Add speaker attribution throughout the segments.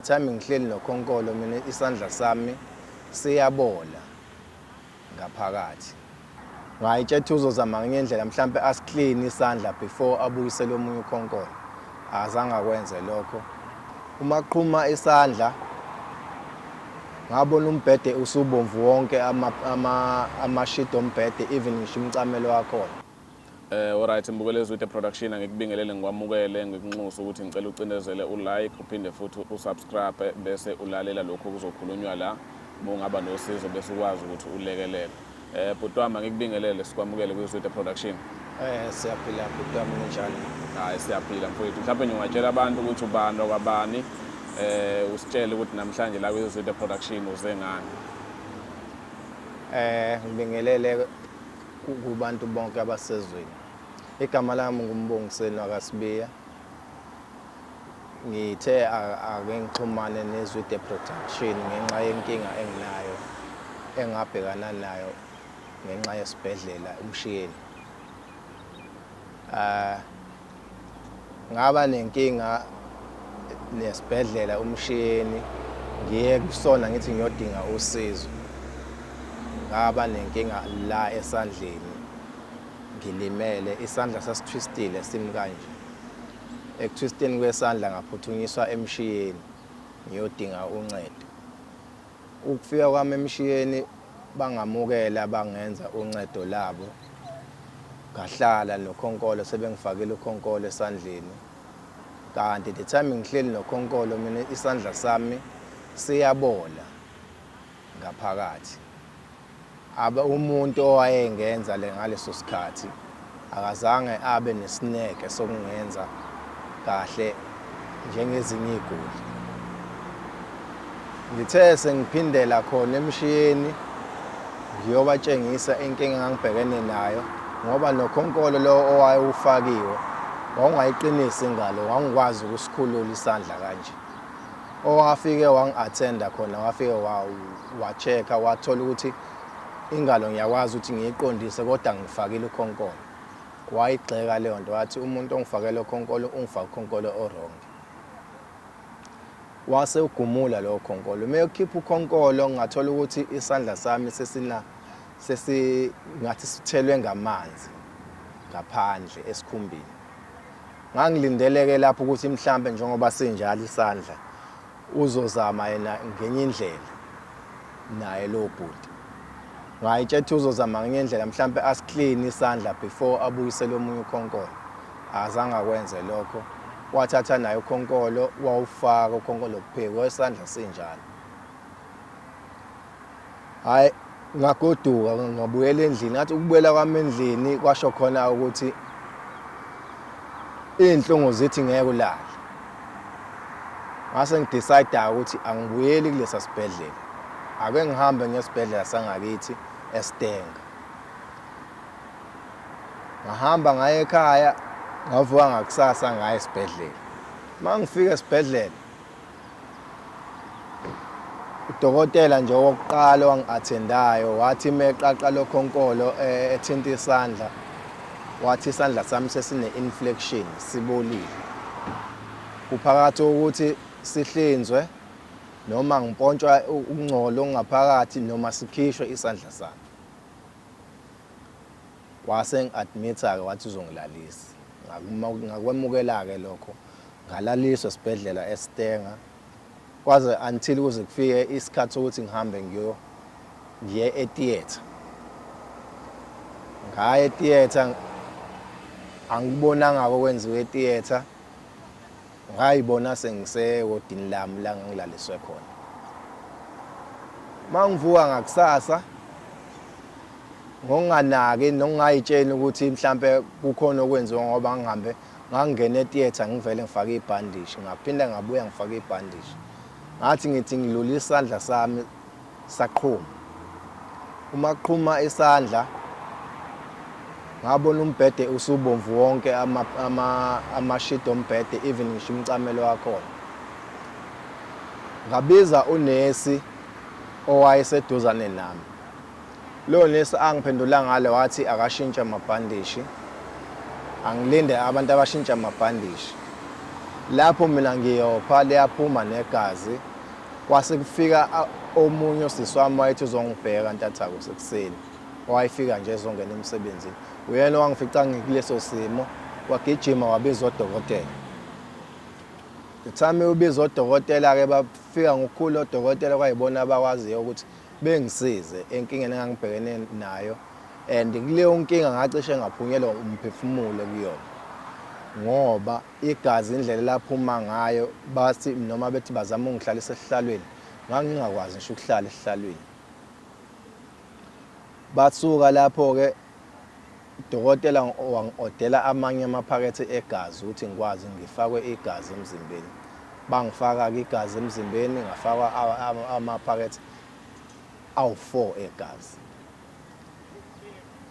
Speaker 1: Thami ngihleli nokhonkolo mina isandla sami siyabola ngaphakathi. Ngayitshetha uzozama ngenye indlela mhlampe asiclean isandla before abuyisele omunye ukhonkolo. Azange akwenze lokho. Uma qhuma isandla ngabona umbhede usubomvu wonke ama ama amashidi ombhede even ngisho umcamelo wakhona. Eh alright
Speaker 2: Mbukelezi with the production angikubingelele ngikwamukele ngikunxusa ukuthi ngicela ucindezele ulike uphinde futhi usubscribe bese ulalela lokho kuzokhulunywa la uma ungaba nosizo bese ukwazi ukuthi ulekelele. Eh bhuti wami angikubingelele sikwamukele kwi Zwide Production. Eh siyaphila
Speaker 1: bhuti wami unjani? Hayi siyaphila
Speaker 2: mfowethu. Mhlawumbe nje ungatshela abantu ukuthi ubani okwabani eh usitshele ukuthi namhlanje la kwi Zwide Production uze ngani. Eh
Speaker 1: ngibingelele kubantu bonke abasezweni. Igama lami nguMbongiseni wakasibiya. Ngithe ake ngixhumane nezwi the production ngenxa yenkinga enginayo engabhekana nayo ngenxa yesibhedlela umshiyeni. Uh, ngaba nenkinga nesibhedlela umshini ngiye kusona ngithi ngiyodinga usizo ngaba nenkinga la esandleni ngilimele isandla sasithwistile simi kanje ekuthwisteni kwesandla ngaphuthunyiswa emshiyeni ngiyodinga uncedo Ukufika kwami emshiyeni bangamukela bangenza uncedo labo. Ngahlala nokhonkolo sebengifakile ukhonkolo esandleni. Kanti the time ngihleli nokhonkolo mina isandla sami siyabola ngaphakathi. Abe umuntu owayengenza le ngaleso sikhathi akazange abe nesineke sokungenza kahle njengezinye igoli. Ngithe sengiphindela khona emshiyeni ngiyobatshengisa inkinga engangibhekene nayo ngoba nokhonkolo lowo owayewufakiwe wawungayiqinisi ingalo wangikwazi ukusikhulula isandla kanje. Owafike wangi-attenda khona wafike wa-check-a wathola ukuthi ingalo ngiyakwazi ukuthi ngiyiqondise kodwa ngifakile ukhonkolo. Wayigxeka leyo nto wathi umuntu ongifakele ukhonkolo ungifake ukhonkolo o-wrong. Wase ugumula lowo khonkolo. Uma ekhipha ukhonkolo ngathola ukuthi isandla sami sesina sesingathi sithelwe ngamanzi ngaphandle esikhumbini. Ngangilindeleke lapho ukuthi mhlampe njengoba sinjalo isandla uzozama yena ngenye indlela naye lo bhuti. Ngayitshe ukuthi uzozama ngenye indlela mhlampe asiclean isandla before abuyisele omunye ukhonkolo. Azange akwenze lokho. Wathatha naye ukhonkolo wawufaka ukhonkolo kuphiko esandla sinjalo. hhayi ngagoduka ngabuyela endlini ngathi ukubuyela kwami endlini kwasho khona ukuthi iy'nhlungu zithi ngeke ulale ngase ngidecide-ke ukuthi angibuyeli kulesa sibhedlela ake ngihambe ngesibhedlela sangakithi esitenga ngahamba ngaye ekhaya ngavuka ngakusasa ngaye esibhedlela uma ngifika esibhedlela udokotela nje wokuqala owangi-athendayo wathi meqaqa lokhonkolo eh, ethinta isandla wathi isandla sami sesine-inflection sibolile kuphakathi ukuthi sihlinzwe noma ngipontshwa ukungcola okungaphakathi noma sikhishwe isandla sami Wase engi admita ke wathi uzongilalisa. Ngakwemukela ke lokho ngalaliswa esibhedlela eStanger kwaze until kuze kufike isikhathi sokuthi ngihambe ngiyo ngiye etheater. Ngaya etheater angikubonanga okwenziwa etheater. Ngayibona sengisekodini lami la ngangilaliswe khona. Uma ngivuka ngakusasa ngokunganaki nokungayitsheni ukuthi mhlampe kukhona okwenziwa ngoba ngihambe ngangena etheatre ngivele ngifake ibhandishi ngaphinda ngabuya ngifake ibhandishi ngathi ngithi ngilula isandla sami Saqhuma. Uma qhuma isandla ngabona umbhede usubomvu wonke amashidi ombhede even ngisho umcamelo wakhona ngabiza unesi owayeseduzane nami lo nesi angiphendula ngale wathi akashintshe amabhandishi angilinde abantu abashintsha amabhandishi lapho mina ngiyopha liyaphuma negazi Kwase kufika omunye osisi wami wayethi uzongibheka ntathaku sekuseni wayefika nje ezongena emsebenzini uyena owangifica ngikuleso simo wagijima wabiza odokotela the time ubiza odokotela-ke bafika ngokukhulu odokotela kwayibona abakwaziyo ukuthi bengisize enkingeni engangibhekene nayo and kuleyo nkinga ngacishe ngaphunyelwa umphefumulo kuyona ngoba Igazi indlela elaphuma ngayo bathi noma bethi bazama ungihlalisa esihlalweni ngangingakwazi ngisho ukuhlala esihlalweni. Basuka lapho ke udokotela wangiodela amanye amaphakethe egazi ukuthi ngikwazi ngifakwe igazi emzimbeni. Bangifaka ke igazi emzimbeni ngafakwa amaphakethe awu-4 egazi.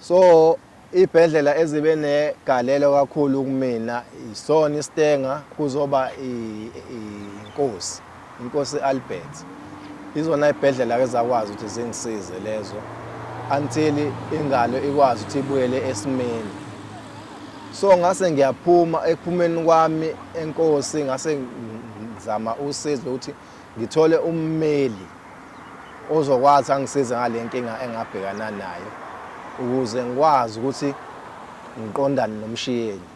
Speaker 1: so ibhedlela ezibe negalelo kakhulu kumina isona iStenga kuzoba inkosi inkosi Albert izona ibhedlela ke zakwazi ukuthi zingisize lezo until ingalo ikwazi ukuthi ibuyele esimeni so ngase ngiyaphuma ekuphumeni kwami enkosi ngase ngizama usizo ukuthi ngithole ummeli ozokwazi angisize ngale nkinga engabhekana nayo ukuze ngikwazi ukuthi ngiqondane nomshiyeni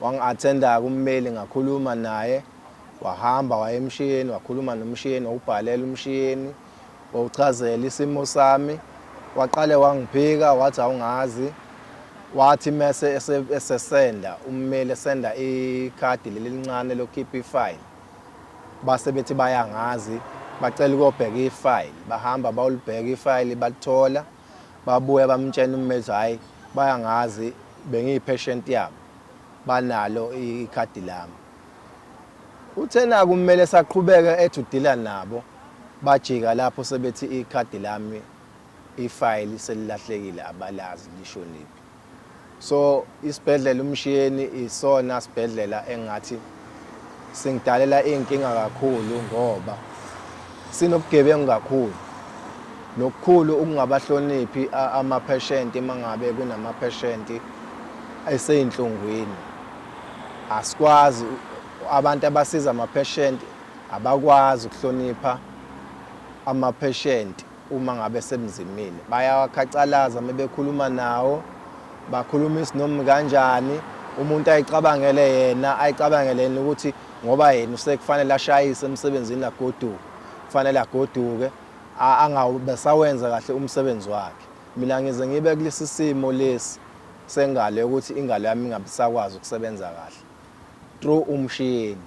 Speaker 1: wangi-athenda kummeli ngakhuluma naye wahamba wayemshiyeni wakhuluma nomshiyeni wawubhalela umshiyeni wawuchazela isimo sami waqale wangiphika wathi awungazi wathi mese esesenda ummeli esenda ikhadi leli lincane lokhipha ifile base bethi bayangazi bacela ukobheka ifile bahamba bawulibheka ifile balithola babuya bamtshena ummeli hayi bayangazi bengiyi-patient yabo banalo ikhadi lami Uthe naku kumele esaqhubeka ethi udila nabo bajika lapho sebethi ikhadi lami ifayili selilahlekile abalazi lishoniphi. So isibhedlela uMshiyeni isona sibhedlela engathi singidalela iy'nkinga kakhulu ngoba sinobugebengu kakhulu nokukhulu ukungabahloniphi amapheshenti uma ngabe kunamapheshenti eseyinhlungwini Asikwazi abantu abasiza amapheshenti abakwazi ukuhlonipha amapheshenti uma ngabe sebenzimile. Bayawakhacalaza uma bekhuluma nawo, bakhuluma isinomi kanjani, umuntu ayicabangele yena, ayicabangele yena ukuthi ngoba yena usekufanele ashayise emsebenzini agoduke, kufanele agoduke angabe sawenza kahle umsebenzi wakhe. Mina ngize ngibe kulesi simo lesi sengalo yokuthi ingalo yami ingabe isakwazi ukusebenza kahle through umshini.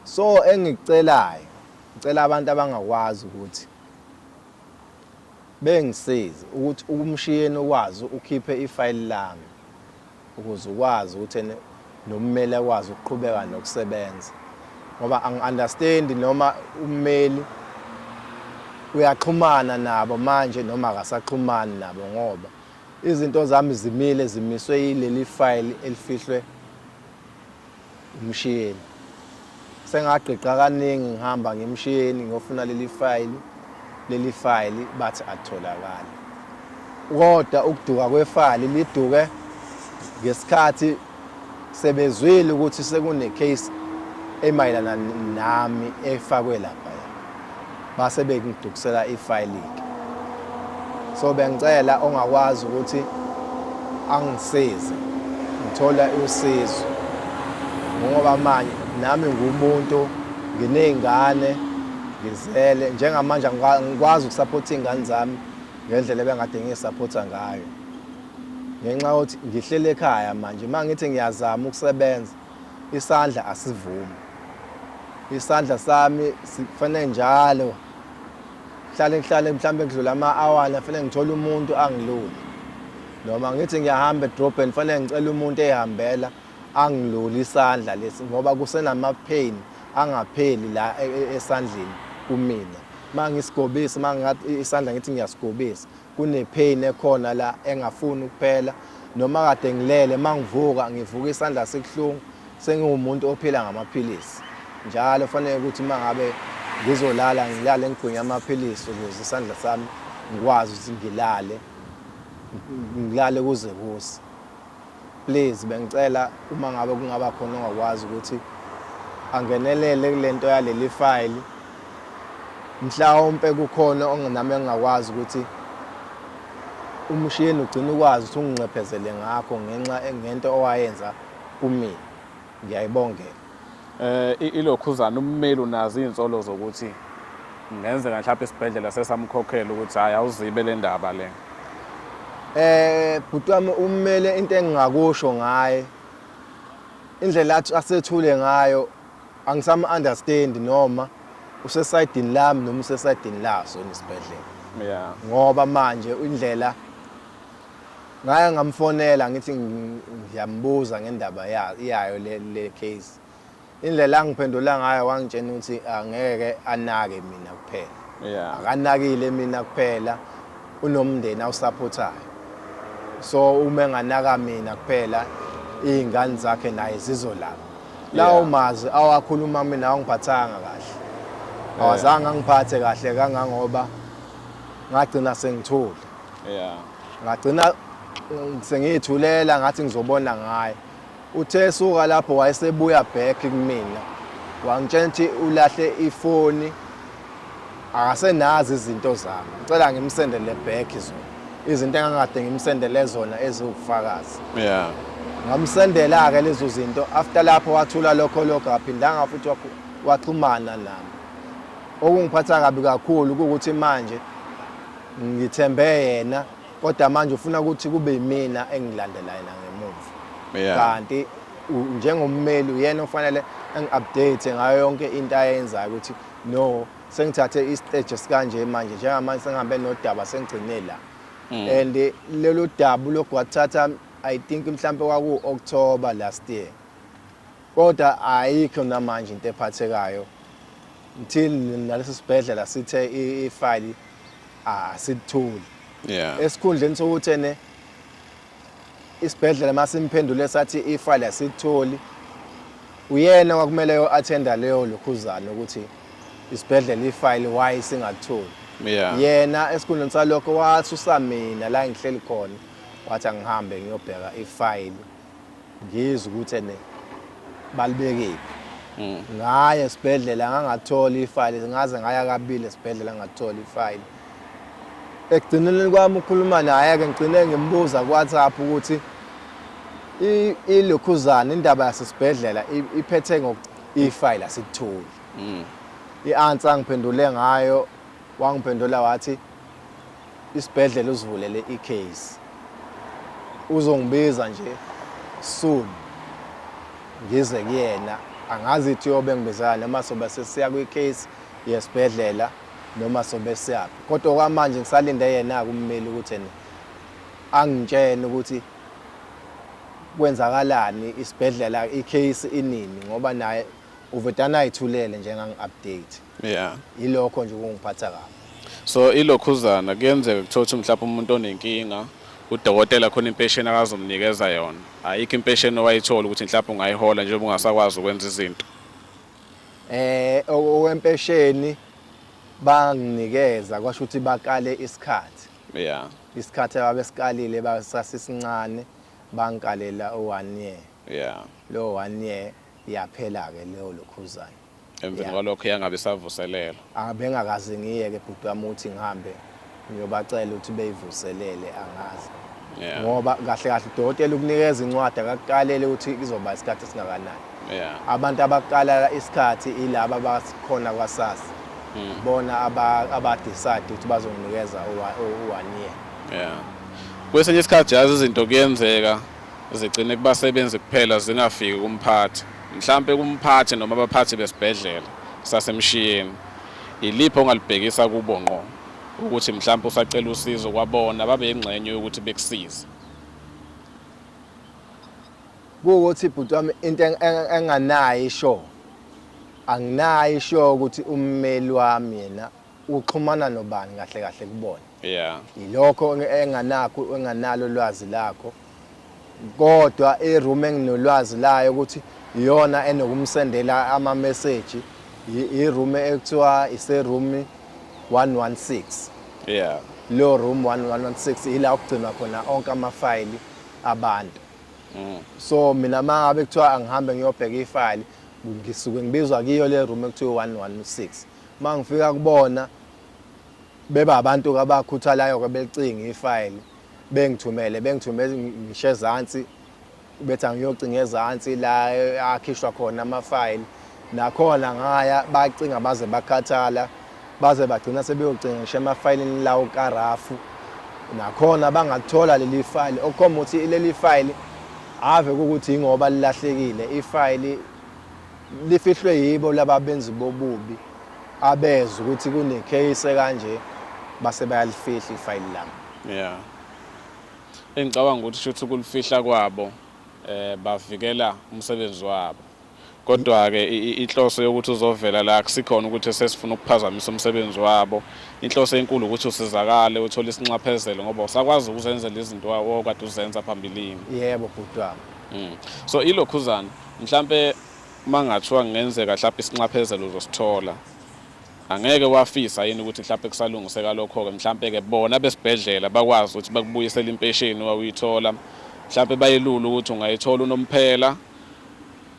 Speaker 1: So engikucelayo, ngicela abantu abangakwazi ukuthi bengisize ukuthi umshini ukwazi ukhiphe ifayili lami. ukuze ukwazi ukuthi ene nommeli akwazi ukuqhubeka nokusebenza ngoba angi-understand noma ummeli uyaxhumana nabo manje noma akasaxhumani nabo ngoba izinto zami zimile zimiswe yileli fayili elifihlwe Umshini. Sengagqigqa kaningi ngihamba ngimshini ngiyofuna leli fayili, leli fayili bathi akutholakali. Kodwa ukuduka kwefayili liduke ngesikhathi sebezwile ukuthi sekune-case emayelana nami efakwe lapha. Base bengidukisela ifayilike. So bengicela ongakwazi ukuthi angisize ngithola usizo ngoba manje nami ngumuntu nginey'ngane ngizele njengamanje ngikwazi ukusaphotha iy'ngane zami ngendlela ebengade ngiyisaphotha ngayo ngenxa yokuthi ngihlele ekhaya manje uma ngithi ngiyazama ukusebenza Isandla asivumi. Isandla sami sifanele njalo hlale ngihlale mhlawumbe kudlula ama-awani afanele ngithole umuntu angilule noma ngithi ngiyahamba edrobheni fanele ngicela umuntu eyihambela angilule isandla lesi ngoba kusenama-pain angapheli la e, e, esandleni kumina uma ngisigobisi uma isandla ngithi ngiyasigobisa Kune pain ekhona la engafuni ukuphela noma kade ngilele mangivuka ngivuka isandla sikuhlungu sengiwumuntu ophila ngamaphilisi njalo fanele ukuthi mangabe ngizolala ngilale ngigwinya amaphilisi ukuze isandla sami ngikwazi ukuthi ngilale ngilale kuze kuse Please bengicela uma ngabe kungaba khona ongakwazi ukuthi angenelele kulento yaleli file mhlawumpe kukhona onginami engingakwazi ukuthi umshini ugcina ukwazi ukuthi unginxephezele ngakho ngenxa ngento owayenza kumina Ngiyayibongela eh,
Speaker 2: ilokhuzana ummeli unazo iy'nsolo zokuthi kungenzeka mhlawumbe isibhedlela sesamkhokhela ukuthi hhayi awuzibe le ndaba le eh bhuti
Speaker 1: wami ummele into engingakusho ngaye indlela athi asethule ngayo angisama understand noma usesayidini lami noma usesayidini laso nesibhedlela yeah ngoba
Speaker 2: manje
Speaker 1: indlela Ngaya ngamfonela ngithi ngiyambuza ngendaba yayo le case. Indlela angiphendula ngayo wangitshena ukuthi angeke anake mina kuphela. Yeah. Akanakile
Speaker 2: mina
Speaker 1: kuphela unomndeni awusaphothayo. So uma enganaka mina kuphela izingane zakhe naye zizolapha. Lawo mazwi awakhuluma mina awangiphathanga kahle. Awazange angiphathe kahle kangangoba ngagcina sengithule. yeah
Speaker 2: ngagcina
Speaker 1: sengiyithulela ngathi ngizobona ngaye uthe suka lapho wayesebuya back kumina wangitshela ukuthi ulahle ifoni akasenazi izinto zami ngicela ngimsendele back zona izinto engangade ngimsendele zona eziwufakazi yeah
Speaker 2: ngamsendela-ke
Speaker 1: lezo zinto after lapho wathula lokho lokho aphindanga futhi waxhumana nami okungiphatha kabi kakhulu ukuthi manje Ngithembe yena kodwa manje ufuna ukuthi kube yimina engilandela yena ngemuva. Yeah. Kanti u- njengommeli uyena ofanele engi-update ngayo yonke into ayenzayo ukuthi no sengithathe isiteji esikanje manje njengamanje sengihambe nodaba sengigcine la. And eh, lolu daba ulokhu wathatha I think mhlampe kwaku-October last year. Kodwa ayikho namanje into ephathekayo until nalesi sibhedlela sithe ifayili asithuli yeah
Speaker 2: esikhundleni sokuthi
Speaker 1: ene isibhedlela masimphendule sathi ifayili asitholi uyena kwakumele yo attenda leyo lokhuzana ukuthi isibhedlela ifayili why singatholi yeah yena
Speaker 2: esikhundleni
Speaker 1: salokho wasusa mina la ngihleli khona wathi angihambe ngiyobheka ifayili ngizwe ukuthi ene balibekile mm. ngaye esibhedlela ngangathola ifayile ngaze ngaya kabili esibhedlela ngathola ifayile ekugcineleni kwami ukhuluma naye-ke ngigcine ngimbuza ku-whatsapp ukuthi ilokhuzana indaba yasesibhedlela iphethe ifayile asikutholi mm. i-answer angiphendule ngayo wangiphendula wathi isibhedlela uzivulele i-case uzongibiza nje soon ngize kuyena angazi ithi yobe ngibizela noma sobe sesiya kwi-case yesibhedlela noma sobe siyaphi kodwa okwamanje ngisalinde yena-ke ummeli ukuthi ena angitshene ukuthi kwenzakalani isibhedlela i-case inini ngoba naye uvedane ayithulele njengangi-update yeah
Speaker 2: ilokho nje kungiphatha
Speaker 1: kabi so
Speaker 2: ilokhuzana kuyenzeka kuthiwa ukuthi mhlawumbe umuntu onenkinga udokotela khona impesheni akazomnikeza yona ayikho impesheni owayithola ukuthi mhlawumbe ungayihola njengoba ungasakwazi ukwenza izinto eh
Speaker 1: owempesheni banginikeza kwasho ukuthi bakale isikhathi yeah
Speaker 2: isikhathi
Speaker 1: ababesikalile basasisincane bangikalela u-one year yeah lo
Speaker 2: one year
Speaker 1: Yaphela-ke leyo lokhuzane. Emveni kwalokho
Speaker 2: yangabe isavuselelwa. Abengakaze
Speaker 1: ngiyeke bhuti wami ukuthi ngihambe ngiyobacela ukuthi beyivuselele angazi. Yeah. Ngoba
Speaker 2: kahle kahle
Speaker 1: udokotela ukunikeza incwadi akakuqalele ukuthi kuzoba isikhathi esingakanani. Yeah. Abantu
Speaker 2: abaqala
Speaker 1: isikhathi ilaba abakhona kwaSASSA. Mm. Bona aba aba decide ukuthi bazonginikeza u-1 year. Yeah.
Speaker 2: Kwesinye isikhathi yazi izinto kuyenzeka zigcine kubasebenzi kuphela zingafiki kumphathi mhlampe kumphathi noma abaphathi besibhedlela sasemshiyeni yiliphi ongalibhekisa kubo ngqo ukuthi mhlampe usacela usizo kwabona babe yingxenye yokuthi bekusize
Speaker 1: kuwukuthi ibhuti wami into enganayo isho anginayo isho ukuthi ummeli wami yena uxhumana nobani kahle kahle kubona yeah yilokho enganakho enganalo lwazi lakho kodwa iroom enginolwazi layo ukuthi iyona enokumsendela ama message iroom ekuthiwa ise room 116 yeah lo room 116 ila ukugcinwa khona onke ama file abantu mm. so mina mangabe kuthiwa angihambe ngiyobheka ifile ngisuke ngibizwa kiyo le room ekuthiwa 116 Uma ngifika kubona beba abantu kabakhuthalayo ke belicinga ifayili bengithumele bengithume ngisho ezansi bethi angiyocinga ezansi la akhishwa khona amafayili nakhona ngaya bacinga baze bakhathala baze bagcina sebeyocinga ngisho emafayilini lawo karafu nakhona bangathola leli fayili okukhomba ukuthi leli fayili ave ukuthi ingoba lilahlekile ifayili Lifihlwe yibo laba benzi bobubi abezwa ukuthi kunecase kanje base bayalifihla ifayili lami. Yeah.
Speaker 2: Engicabanga ukuthi shuthi kulifihla kwabo eh bavikela umsebenzi wabo. Kodwa ke inhloso yokuthi uzovela la kusikhona ukuthi sesifuna ukuphazamisa umsebenzi wabo. Inhloso enkulu ukuthi usizakale uthole isinxaphezelo ngoba usakwazi ukuzenzela izinto okade uzenza phambilini. Yebo bhuti wami.
Speaker 1: Mm. So ilokhuzana
Speaker 2: Mhlampe mangathiwa kungenzeka mhlawumbe isinxaphezelo uzosithola angeke wafisa yini ukuthi mhlawumbe kusalungiseka lokho-ke mhlawumbe-ke bona besibhedlela bakwazi ukuthi bakubuyisele impesheni wawuyithola mhlawumbe bayelula ukuthi ungayithola unomphela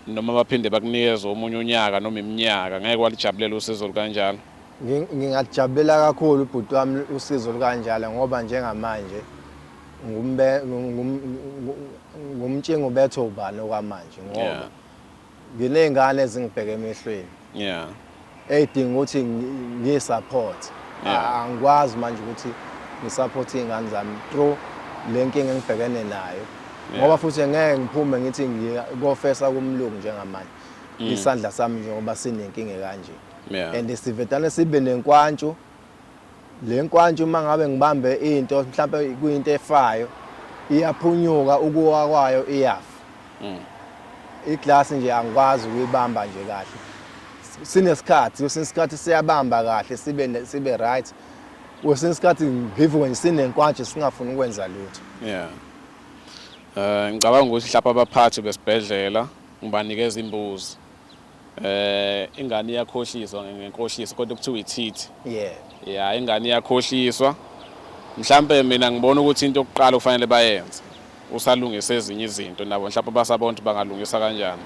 Speaker 2: noma baphinde bakunikeze omunye unyaka noma iminyaka ngeke walijabulela usizo lukanjalo ngingajabulela
Speaker 1: kakhulu ubhuti wami usizo lukanjalo ngoba njengamanje ngumtshinga ubethe ubani okwamanje ngoba nginey'ngane ezingibheke emehlweni yeah
Speaker 2: ey'dinga
Speaker 1: ukuthi ngiyi-support angikwazi manje ukuthi ngi-support iy'ngane zami through le nkinga engibhekene nayo ngoba futhi ngeke ngiphume ngithi ngikofesa kumlungu njengamanje mm. isandla sami njengoba sinenkinga kanje and sivedane sibe nenkwantshu Le nkwantshi uma ngabe ngibambe into mhlawumpe kuyinto efayo iyaphunyuka ukuwa kwayo iyafa mm. iglasi nje angikwazi ukuyibamba nje kahle sinesikhathi kwesinye isikhathi siyabamba kahle sibe sibe right kwesinye isikhathi ngivuke nje sinenkwanje singafuni ukwenza lutho
Speaker 2: yeah eh ngicabanga ukuthi mhlawumbe abaphathi besibhedlela ngibanikeza imbuzi Eh ingane iyakhohliswa ngenkohliso kodwa kuthiwa ithithi. Yeah. Yeah ingane iyakhohliswa. Mhlambe mina ngibona ukuthi into yokuqala kufanele bayenze usalungisa ezinye izinto nabo mhlawumbe basabontu bangalungisa kanjani.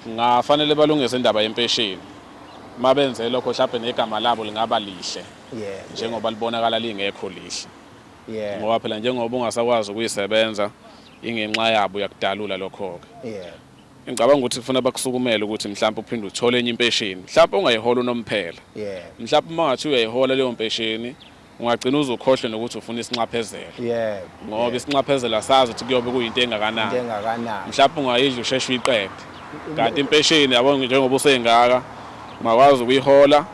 Speaker 2: Ngafanele balungise indaba yempesheni. Mabenze lokho mhlawumbe negama labo lingaba lihle. Yeah. Njengoba libonakala lingekho lihle. Yeah. Ngoba phela njengoba ungasakwazi ukuyisebenza ingenxa yabo yakudalula lokho ke. Yeah. Ngicabanga ukuthi kufuna bakusukumele ukuthi mhlawumbe uphinde uthole enye impesheni. Mhlawumbe ungayihola unomphela. Yeah. Mhlawumbe uma ngathi uyayihola leyo mpesheni ungagcina uzukhohlwe nokuthi ufuna isinxaphezelo. Yeah. Ngoba isinxaphezelo asazi ukuthi kuyobe kuyinto engakanani. Into engakanani. Mhlawumbe ungayidla usheshe uyiqede. Kanti impesheni yabo njengoba usengaka ungakwazi ukuyihola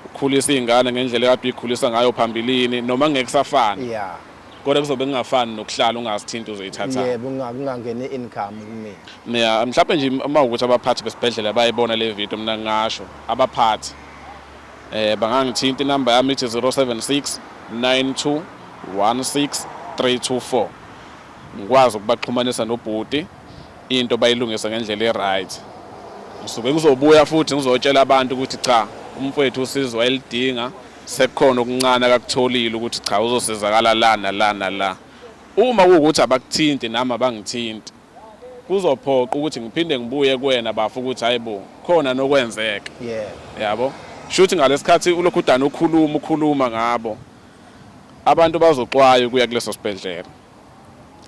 Speaker 2: ukhulisa izingane ngendlela ekade uyikhulisa ngayo phambilini noma ngeke safana. Yeah. kodwa kuzobe kungafani nokuhlala ungazithinta uzoyithatha yebo kungangeni
Speaker 1: income kumina mina mhlawumbe nje
Speaker 2: uma ukuthi abaphathi besibhedlela bayibona le video mina ngingasho abaphathi eh bangangithinta inamba yami ithi 076 92 16 324 ngikwazi ukubaxhumanisa nobhuti into bayilungisa ngendlela e-right ngisuke ngizobuya futhi ngizotshela abantu ukuthi cha umfowethu usizwa elidinga sekukhona okuncane akakutholile ukuthi cha uzosizakala la nala nala uma kuwukuthi abakuthinti nami abangithinti kuzophoqa ukuthi ngiphinde ngibuye kuwena bafa ukuthi hayibo khona nokwenzeka yeah yabo shuthi ngalesikhathi ulokhu udana ukhuluma ukhuluma ngabo abantu bazoxwaye kuya kuleso sibhedlela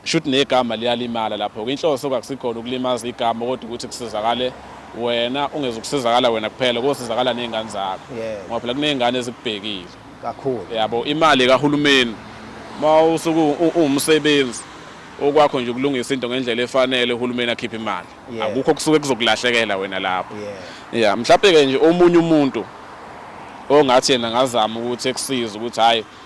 Speaker 2: Shuthi negama liyalimala lapho ke inhloso kwakusikhona ukulimaza igama kodwa ukuthi kusizakale wena ungezukusizakala wena kuphela kosizakala nezingane zakho yeah. ngoba phela kunezingane ezikubhekile kakhulu yabo
Speaker 1: imali
Speaker 2: kahulumeni mawusuku uwumsebenzi okwakho nje ukulungisa into ngendlela efanele uhulumeni akhiphe imali yeah. akukho kusuke kuzokulahlekela wena lapho yeah, yeah. mhlawumbe ke nje omunye umuntu ongathi yena ngazama ukuthi ekusize ukuthi hayi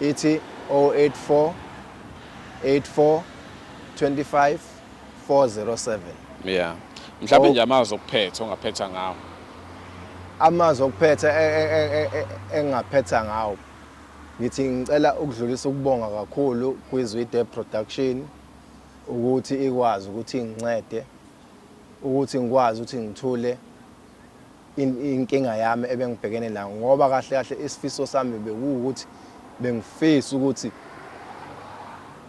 Speaker 1: ithi 084 84 25 407 yeah
Speaker 2: mhlawumbe nje amazwi okuphetha ongaphetha ngawo
Speaker 1: amazwi okuphetha e, e, e, engaphetha ngawo ngithi ngicela ukudlulisa ukubonga kakhulu kwizwide production ukuthi ikwazi ukuthi ngincede ukuthi ngikwazi ukuthi ngithule inkinga yami ebengibhekene nayo ngoba kahle kahle isifiso sami bekuwukuthi bengifisa ukuthi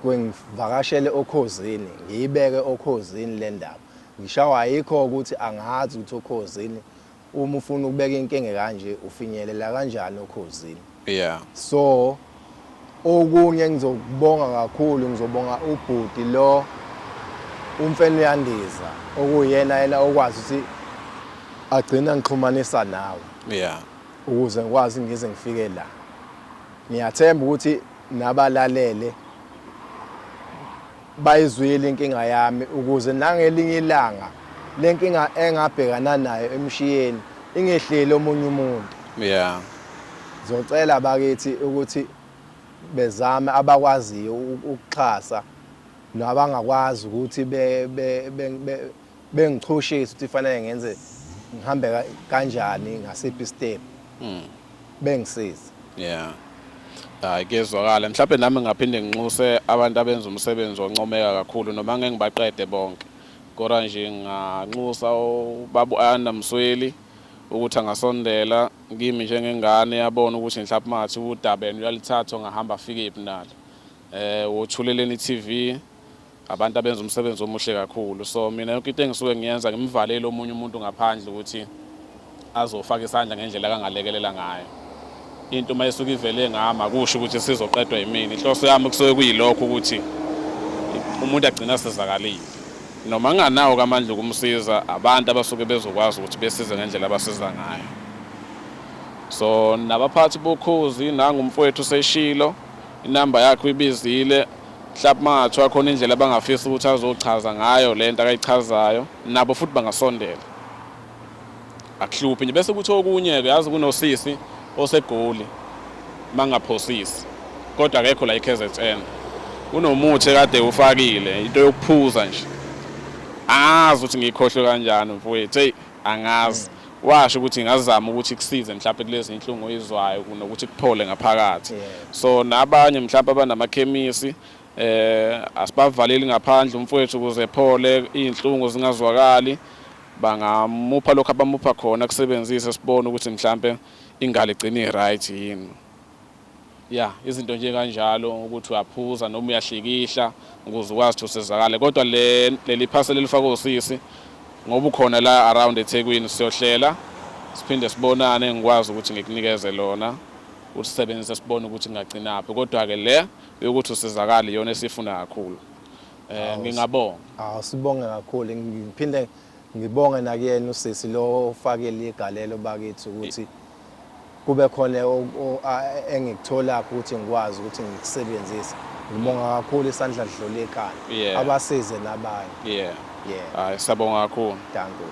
Speaker 1: kwengivakashele okhozini ngiyibeke okhozini le ndaba ngishawa ayikho ukuthi angazi ukuthi okhozini uma ufuna ukubeka inkinga kanje ufinyelela kanjani okhozini yeah so Okunye engizokubonga kakhulu ngizobonga ubhuti lo umfene uyandiza okuyena yena okwazi ukuthi agcina ngixhumanisa nawe yeah
Speaker 2: ukuze ngikwazi
Speaker 1: ngize ngifike la ngiyathemba ukuthi nabalalele Bayizwile inkinga yami ukuze nangelinye ilanga le nkinga engabhekana nayo emshiyeni ingehleli omunye umuntu. Yeah.
Speaker 2: Zocela
Speaker 1: bakithi ukuthi bezame abakwaziyo ukuxhasa nabangakwazi ukuthi be, be, be, be bengichushisa ukuthi fanele ngenze ngihambe kanjani ngasiphi step mm. bengisiza
Speaker 2: yeah hayi kezwakala mhlawumbe nami ngaphinde nginxuse abantu abenza umsebenzi oncomeka kakhulu noma ngeke ngibaqede bonke kodwa nje nganxusa ubabu Anna Msweli ukuthi angasondela kimi njengengane yabona ukuthi mhlawumbe mathi udabeni uyalithatha ngahamba afike iphi nalo eh wothuleleni TV Abantu abenza umsebenzi omuhle kakhulu so mina yonke into engisuke ngiyenza ngimvalele omunye umuntu ngaphandle ukuthi azofaka isandla ngendlela kangalekelela ngayo into uma isuke ivele ngami akusho ukuthi sizoqedwa yimina inhloso yami kusuke kuyilokho ukuthi umuntu agcina asizakalile noma nginganawo kamandla ukumsiza abantu abasuke bezokwazi ukuthi besize ngendlela abasiza ngayo so nabaphathi bokhozi nangumfowethu seshilo inamba yakhe uyibizile mhlawumbe uma ngathiwa khona indlela abangafisa ukuthi azochaza ngayo le nto akayichazayo nabo futhi bangasondela akuhluphi nje bese kuthi okunye-ke yazi kunosisi osegoli uma ngaphosisi kodwa akekho la i-kzn unomuthi ekade ufakile into yokuphuza nje azi ukuthi ngiyikhohlwe kanjani mfowethu eyi Angazi. Washo ukuthi ngazama ukuthi kusize mhlawumbe kulezi inhlungu oyizwayo kunokuthi kuphole ngaphakathi. So nabanye mhlawumbe abanamakhemisi eh asibavaleli ngaphandle umfowethu ukuze ephole izinhlungu zingazwakali bangamupha lokho abamupha khona kusebenzise sibone ukuthi mhlambe ingalo igcine right yini ya izinto nje kanjalo ukuthi uyaphuza noma uyahlikihla ukuze ukwazi ukuthi usizakale kodwa le leli phasela elifakwe usisi ngoba ukhona la around eThekwini siyohlela siphinde sibonane ngikwazi ukuthi ngikunikeze lona usisebenzise sibone ukuthi ngagcinaphi kodwa ke le yokuthi usizakale yona esifuna kakhulu eh ngingabonga awu sibonge
Speaker 1: kakhulu ngiphinde ngibonge nakuyena usisi lo ofakele igalelo bakithi ukuthi Kube khona engikutholakho ukuthi ngikwazi ukuthi ngikusebenzise. Ngibonga kakhulu isandla sidlula ikhanda. Yeah.
Speaker 2: Abasize
Speaker 1: nabanye. Yeah.
Speaker 2: Yeah.
Speaker 1: Hayi, siyabonga
Speaker 2: kakhulu.
Speaker 1: Dankie.